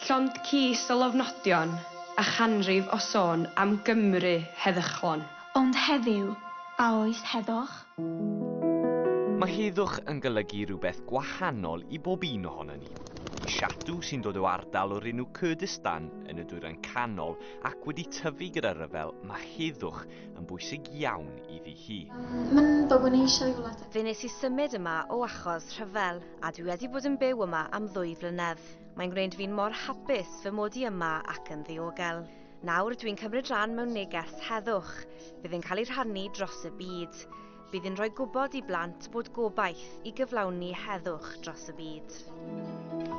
Llond cys o lofnodion a chanrif o sôn am Gymru heddychlon. Ond heddiw, a oes heddwch? Mae heddwch yn golygu rhywbeth gwahanol i bob un ohonon ni. I Shatu, sy'n dod o ardal o'r enw Kurdistan yn y Dwyrain Canol ac wedi tyfu gyda rhyfel, mae heddwch yn bwysig iawn iddi hi. Mae'n bobl ni eisiau i wlad ac. Fe wnes i symud yma o achos rhyfel, a dwi wedi bod yn byw yma am ddwy flynedd. Mae'n gwneud fi'n mor hapus fy mod i yma ac yn ddiogel. Nawr dwi'n cymryd rhan mewn neges heddwch. Bydd yn cael ei rhannu dros y byd. Bydd yn rhoi gwybod i blant bod gobaith i gyflawni heddwch dros y byd.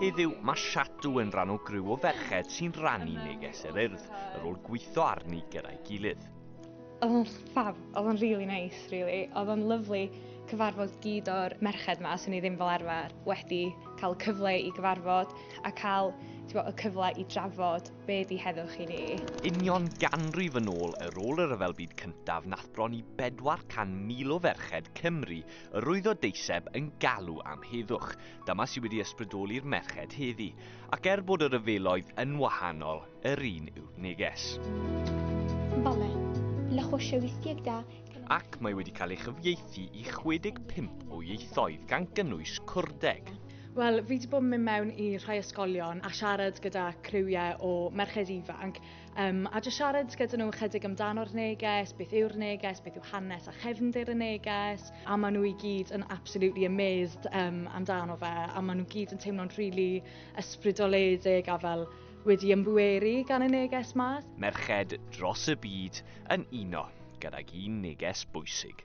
Heddiw, mae Shadw yn rhan o griw o ferched sy'n rannu neges yr Urdd, yr ôl gweithio arni gyda'i gilydd. Oedd o'n ffab, oedd o'n really nice, really. Oedd o'n lyflu cyfarfod gyd o'r merched ma, sy'n ni ddim fel arfer wedi cael cyfle i gyfarfod a cael bod, y cyfle i drafod be di heddwch i ni. Union ganrif yn ôl y rôl y Rhyfel Byd Cyntaf nath bron i 400,000 o ferched Cymru yr oedd o deiseb yn galw am heddwch. Dyma sydd wedi ysbrydoli'r merched heddi. Ac er bod y rhyfeloedd yn wahanol, Yr un yw'r neges. Bale, la hoche wistiegda. Ac mae wedi cael ei chyfieithu i 65 o ieithoedd gan gynnwys Cwrdeg. Wel, fi wedi bod yn mynd mewn i rhai ysgolion a siarad gyda criwiau o merched ifanc um, a jyst siarad gyda nhw ychydig amdano'r neges, beth yw'r neges, beth yw hanes a chefndir y neges, a maen nhw i gyd yn absolutely amazed um, amdano fe, a maen nhw gyd yn teimlo'n rili really ysbrydoledig a fel Wedi ymbweru gan y neges mas. Merched dros y byd yn uno gydag un neges bwysig.